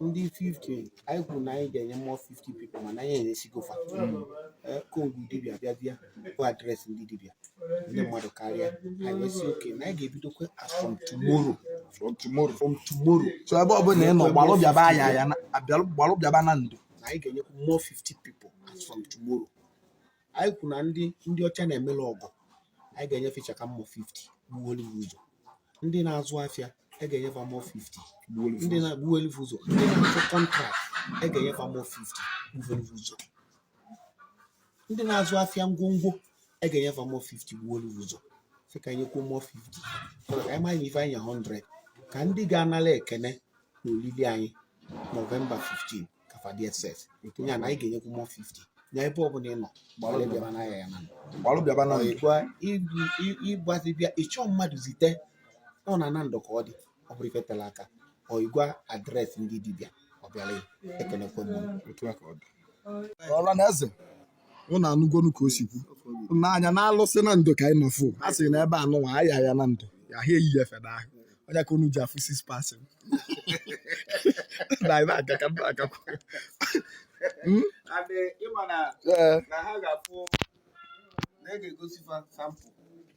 ndị 50 anyị kwuru na anyị ga-enye mmụọ 50 people mana anyị enyesigo fa okongwu dibịa bịa bịa bụ adreesị ndị dibịa ndị mmadụ karịa anyị wee sị okay na anyị ga-ebidokwa as from tomorrow from tomorrow from tomorrow so ebe ọ bụla ị nọ gbalụ bịaba ya ya na- abịalụ- gbalụ bịaba Nando na anyị ga-enyekwu mmụọ 50 people as from tomorrow anyị kwuru na ndị ndị ọcha na-emelụ ọgọ anyị ga-enye fa ịchaka mmụọ 50 gbuwelu ha ụzọ ndị na-azụ afịa e ga-enye fa mmụọ 50 ndị na- gbuwelu ha ụzọ ndị na-achọ kọntrakt e ga-enye fa mmụọ 50 gbuwelu ha ụzọ ndị na-azụ afịa ngwongwo e ga-enye fa mmụọ 50 gbuwelu ha ụzọ sị ka anyị nyekwuo mmụọ 50 ka anyị mara na ife anyị 100 ka ndị ga-anala ekene na olili anyị November 15 ka fa dị excess ya na anyị ga-enyekwu mmụọ 50 na ebe ọ bụla ị nọ gbalụ bịaba na ya ya na gbalụ bịaba na ịgwa ịgbazi bịa ị chọọ mmadụ zite ọ na Nando ka ọ dị ọ bụrụ ife tela aka ọ ịgwa adreesị ndị dibịa ọ bịara ekenekwe m otu a ka ọ dị ọla na eze ụnụ anụgonu ka o si kwu n'anya na alụsị Nando ka anyị nọ fụ a sị na ebe anụnwa ayaya Nando ya ha eyi ya feda ahụ onye ka unu ji afụ 6 person na anyị na-aga ka ndị agakwa Hmm? And eh, ịma na Ee. na ha ga-afụ na e ga-egosi fa sample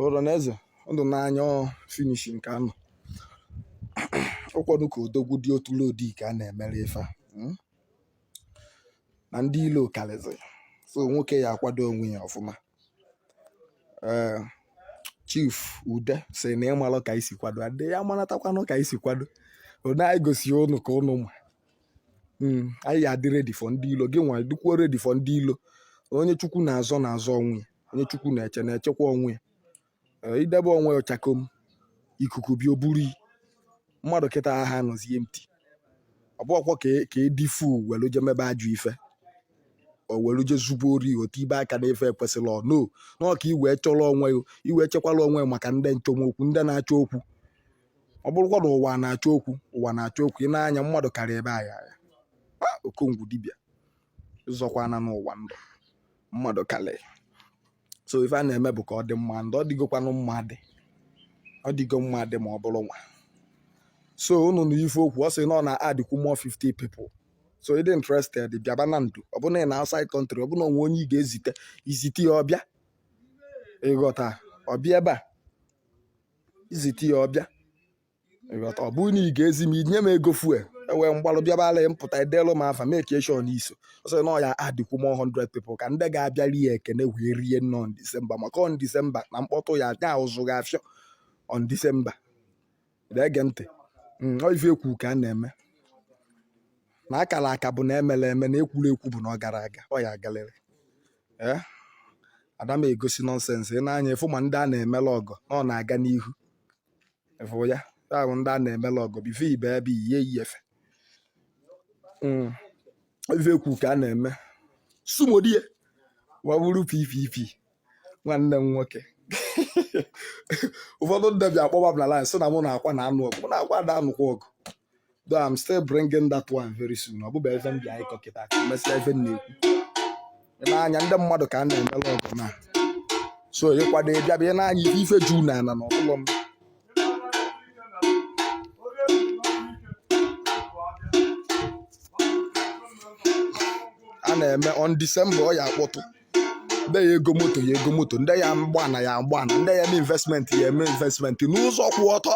Oroneze ndụ n'anya ọ finish nke anọ ụkwọdụ ka odogwu dị otu lodi ka a na-emere ife a mm? na ndị ilo karịzị so nwoke ya akwado onwe ya ọfụma ee eh, chief ude sị na ị malụ ka anyị si kwado adị ya maratakwanụ ka anyị si kwado onwe anyị gosi ụnụ ka ụnụ ma hmm, anyị ya adị ready for ndị ilo gị nwa dịkwuo ready for ndị ilo onye chukwu na-azọ na-azọ onwe ya onye chukwu na-eche na-echekwa onwe ya eh, i debe onwe ị chakom ikuku bịa o buru ị mmadụ kịta ha anọzie empty ọ bụ ọkwọ ka edifu e welu je mebe ajụ ife o welu je zube ori otu ibe aka na efe ekwesịrị ọ no n'ọka i wee chọrọ onwe i wee chekwala onwe maka ndị nchomokwu ndị na-achọ okwu ọ bụrụkwa na ụwa na-achọ okwu ụwa na-achọ okwu ị na-anya mmadụ karịa ebe ayaya okongwu dibịa zọkwana n'ụwa ndụ mmadụ karịa so ife a na-eme bụ ka ọ dị mma ndị ọ dịgokwanụ mma dị ọ dịgo mma dị ma ọ bụrụ nwa so unu anụ ife o kwu ọ sị na ọ na-adịkwu mmụọ 50 people so ị dị interested bịaba Nando ọ bụrụ na ị nọ outside country ọ bụrụ na o nwe onye ị ga-ezite i zite ya ọ bịa ị ghọta ọ bịa ebe a izite ya ọ bịa ịghọta ọ bụrụ na ị ga-ezi m inye m ego fuel ewee m gbalụ bịabala m pụta edelụ m afa make sure na iso ọ sị na ọ ya adịkwu m 100 people ka ndị ga-abịa rie ekene wee rie nne on December maka on December na mkpọtụ ya nya ụzụ ga-afịọ on December na-ege ntị mm, ọ ife ekwu ka a na-eme na akara aka bụ na emere eme na ekwuru ekwu bụ na ọ gara aga ọ ya agalịlị ee eh? ada m egosi nonsense ị nee anya ị fụ ma ndị a na-emela ọgwụ na ọ na-aga n'ihu ị fụ ya ahụ ndị a na-emela ọgwụ bife ibe ebe ihe iyi efe hmm. ife ekwu ka a na-eme sumodie waburu ppp nwanne m nwoke ụfọdụ ndị bịa akpọba m na line sị na mụ na-akwa na-anụ ọgụ mụ na-akwa ada anụkwa ọgụ though I'm still bringing that one very soon ọ bụbụ ife m bịa ịkọ kịta ka mesịa ife m na-ekwu n'anya ndị mmadụ ka a na-emere ọgwụ na so ịkwado ịbịa bịa n'anya ife ife juu na ana n'ụlọ m a na-eme on December ọ ya akpọtụ ndị ya ego moto ya ego moto ndị ya mgbana ya mgbana ndị ya eme investment ya eme investment n'ụzọ kwụ ọtọ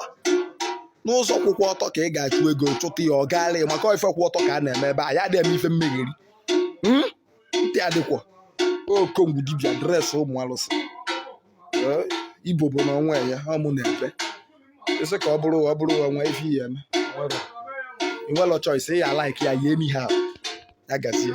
n'ụzọ kwụkwa ọtọ ka ị ga-achụ ego chụta ya ọ gaala maka ife kwụ ọtọ ka a na-eme ebe a ya adịghị eme ife mmegheri hmm? ntị adịkwa okongwu dibịa dresị ụmụ alụsị Igbo bụ na onwe ya ọ mụ na-ebe isi ka ọ bụrụ ọ bụrụ onwe ife ya eme inwelọ choice ya like ya yie n'ihe ahụ ya gazie